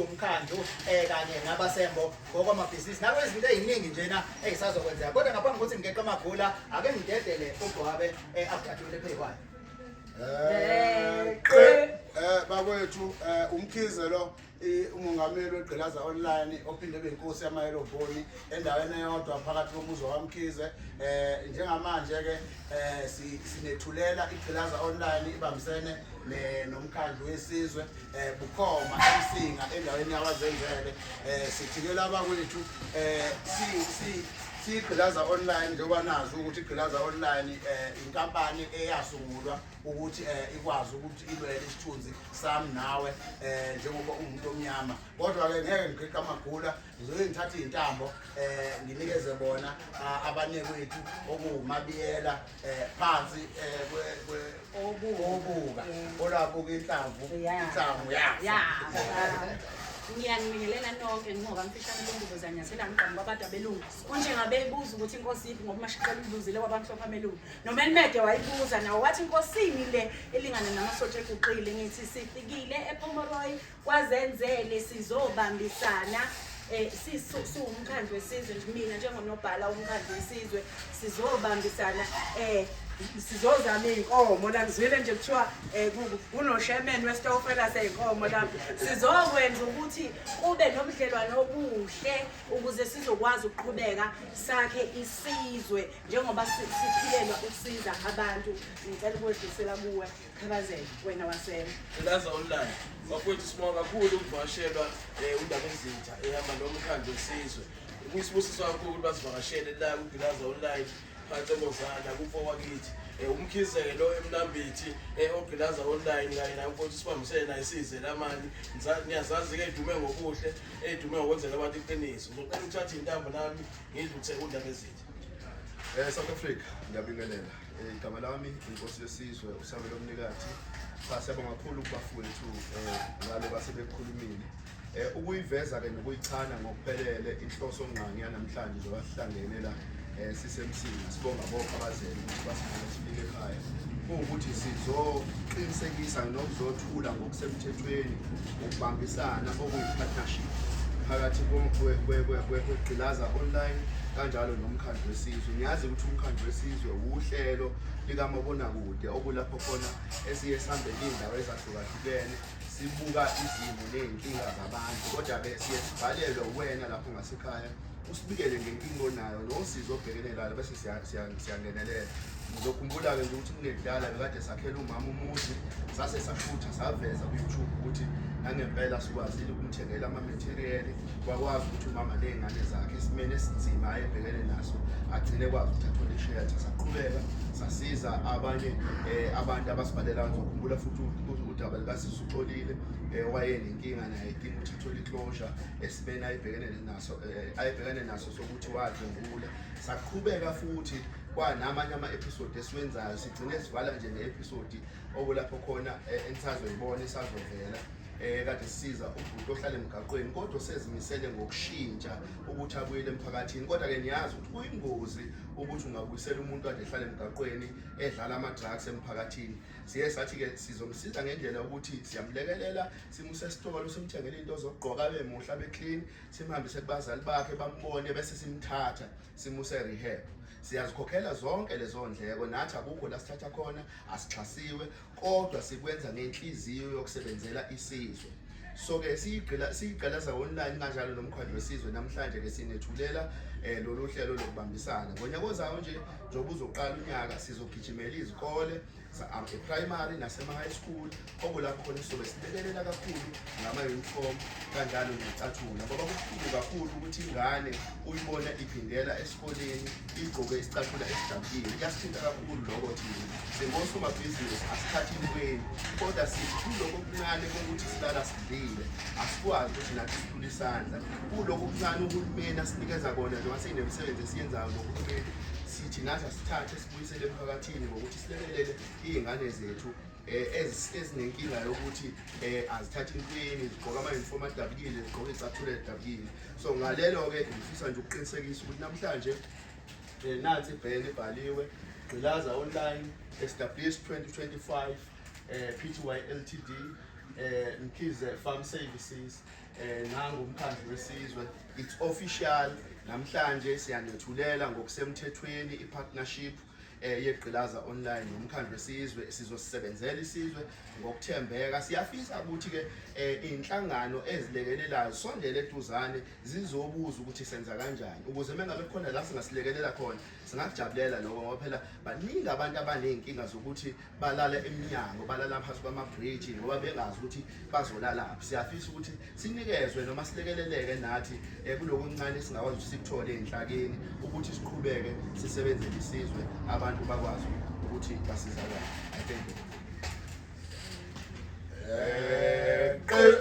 umkhandlu um kanye nabasembo ngokwamabhizinisi nabo izinto ey'ningi njena ey'sazokwenzeka kodwa ngaphambi kokuthi ngigeqe amagula ake ngidedele ugwabe um eh, abudadule phekwayo um bakwethu um umkhize lo umongameli wegqilaza online ophinde ebe inkosi yamayeloboni endaweni eyodwa phakathi komuzi wakwamkhize um njengamanje-ke um sinethulela igqilaza online ibambisene nomkhandlu wesizwe eh bukhoma emsinga endaweni yabazenzele eh sithikela abakwethu eh si si sigqilaza online njengoba nazi ukuthi igqilaza online eh inkampani eyasungulwa ukuthi eh ikwazi ukuthi ilwele isithunzi sami nawe eh njengoba umuntu omnyama kodwa ke ngeke ngiqhiqa amagula ngizoke ngithathe iy'ntambo um eh, nginikeze bona ah, abanekwethu okuwumabiyela um phansi um obuka olabuka inhlamvu inhlamvu ngiyanibingelela nonke ngoba mfishane lombuzo zanyathela ngigqama kwabantu abelungu kunjengabe ibuza ukuthi inkosi yiphi ngoba umashiqela ulibuzile kwabamhlophe amelungu nomelmede wayibuza nawo wathi inkosini le elingana namasotsha eguqile ngithi sifikile ephomoroyi kwazenzele sizobambisana eh siwumkhandlu wesizwe nje mina njengonobhala womkhandlu wesizwe sizobambisana eh sizozama iy'nkomo la ngizwile nje kuthiwa eh, um kunoshemen wesitofela sey'nkomo lami sizokwenza ukuthi kube nobudlelwane obuhle ukuze sizokwazi ukuqhubeka sakhe isizwe njengoba siphilelwa ukusiza abantu ngicela ukudlisela kuwe Khabazela wena wasela. Elaza online. Bakwethu sibonga kakhulu ukuvakashelwa eh undaba ezintsha ehamba nomkhandlu wesizwe. Kuyisibusiso kakhulu ukuthi basivakashele la kuGilaza online phansi eMozana kufo wakithi. Eh umkhizelo emlambithi eh oGilaza online kanye nayo mfowethu sibambisene naye size lamani. Ngiyazazi ke idume ngokuhle, edume ngokwenzela abantu iqiniso. Ngicela ukuthatha intambo nami ngidluthe undaba ezintsha. Eh South Africa ngiyabingelela. Eh, igama lami inkosi yesizwe usabe lomnikathi cha siyabonga kakhulu kubafowethu eh, ngalo base bekhulumile eh, ukuyiveza-ke nokuyichana ngokuphelele inhloso ngqangi yanamhlanje njengoba sihlangene la um sisemsini sibonga bonke abazele ukuthi basifuna sifike ekhaya kuwukuthi sizoqinisekisa nokuzothula ngokusemthethweni ukubambisana okuyi-partnership phakathi kwegqilaza online kanjalo nomkhandlu wesizwe ngiyazi ukuthi umkhandlu wesizwe wuhlelo likamabonakude okulapho khona esiye sihambe iy'ndawo ezahlukahlukene sibuka izimo ney'nkinga zabantu kodwa-ke siye sibhalelwe uwena lapho ngasekhaya usibikele ngenkinga onayo nosizo obhekene lalo bese siyangenelela ngizokhumbula-ke nje ukuthi kunekudala bekade sakhela umama umuzi sase sashutha saveza ku-youtube ukuthi nangempela sikwazile ukumthengela amametheriyeli kwakwazi ukuthi umama ney'ngane zakhe esimeni esinzima ayebhekene naso agcine kwazi ukuthi athole ishelter saqhubeka sasiza abanye um abantu abasibhalelayo ngizokhumbula futhi udaba likasisi uxolile um eh, wayenenkinga naye idinga ukuthi athole iklosha esimeni ayebhekene naso eh, ayebhekane naso sokuthi wadlwengula saqhubeka futhi kwanamanye ama-episode esiwenzayo sigcine sivala nje ne-episode okulapho khona eh, enisazoyibona isazovela eh kade sisiza ubhuti ohlala emgaqweni kodwa sezimisele ngokushintsha ukuthi abuyele emphakathini kodwa ke niyazi ukuthi kuyingozi ukuthi ungabuyisela umuntu ade ehlala emgaqweni edlala ama drugs emphakathini siye sathi ke sizomsiza ngendlela ukuthi siyamlekelela simuse esitolo simthengele into zokugqoka abe muhle abe clean simhambise kubazali bakhe bambone bese simthatha simuse rehab siyazikhokhela zonke lezo ndleko nathi akukho la sithatha khona asixhasiwe kodwa sikwenza ngenhliziyo yokusebenzela isizwe so ke siyigqila siyigqalaza online kanjalo nomkhandlu wesizwe namhlanje ke sinethulela eh lolu hlelo lokubambisana ngonyaka ozayo nje njengoba uzoqala unyaka sizogijimela izikole e-primary nasema-high school okulapho khona sizobe silekelela kakhulu ngama-uniform kanjalo necathula ngoba kubuhlungu kakhulu ukuthi ingane uyibona iphindela esikoleni igqoke isicathula esidabukile kuyasithinta kakhulu lokho thina singosomabhizinisi asikhathi intweni kodwa sithi kuloko kuncane kokuthi silala sidlile asikwazi ukuthi nathi sithule isandla kuloko kuncane uhulumeni asinikeza kona njengoba seyinemisebenzi esiyenzayo nohulumeni sithi nathi asithathe Buyisele emphakathini ngokuthi silekelele iy'ngane zethu um ezinenkinga yokuthi um azithathe intweni zigqoke amayunifomu adabukile zigqoke icathula edabukile so ngalelo-ke ngifisa nje ukuqinisekisa ukuthi namhlanje um nansi ibhele ibhaliwe gqilaza online sws 2025 um p t y l t d um mkhize farm services Eh nangu umkhandlu wesizwe it's official namhlanje siyanethulela ngokusemthethweni ipartnership eh yegqilaza online nomkhandlu wesizwe sizosebenzela isizwe ngokuthembeka siyafisa ukuthi ke eh, inhlangano ezilekelelayo sondele eduzane zizobuza ukuthi senza kanjani ukuze mengabe khona la singasilekelela khona singakujabulela lokho ngoba phela baningi abantu abanezinkinga zokuthi balala emnyango balala phansi kwamabhriji ngoba bengazi ukuthi bazolalaphi siyafisa ukuthi sinikezwe noma silekeleleke nathi eh, kulokuncane singakwazi ukuthi sikuthole enhlakeni ukuthi siqhubeke sisebenzele isizwe abantu bakwazi ukuthi basizakale i thank you eh,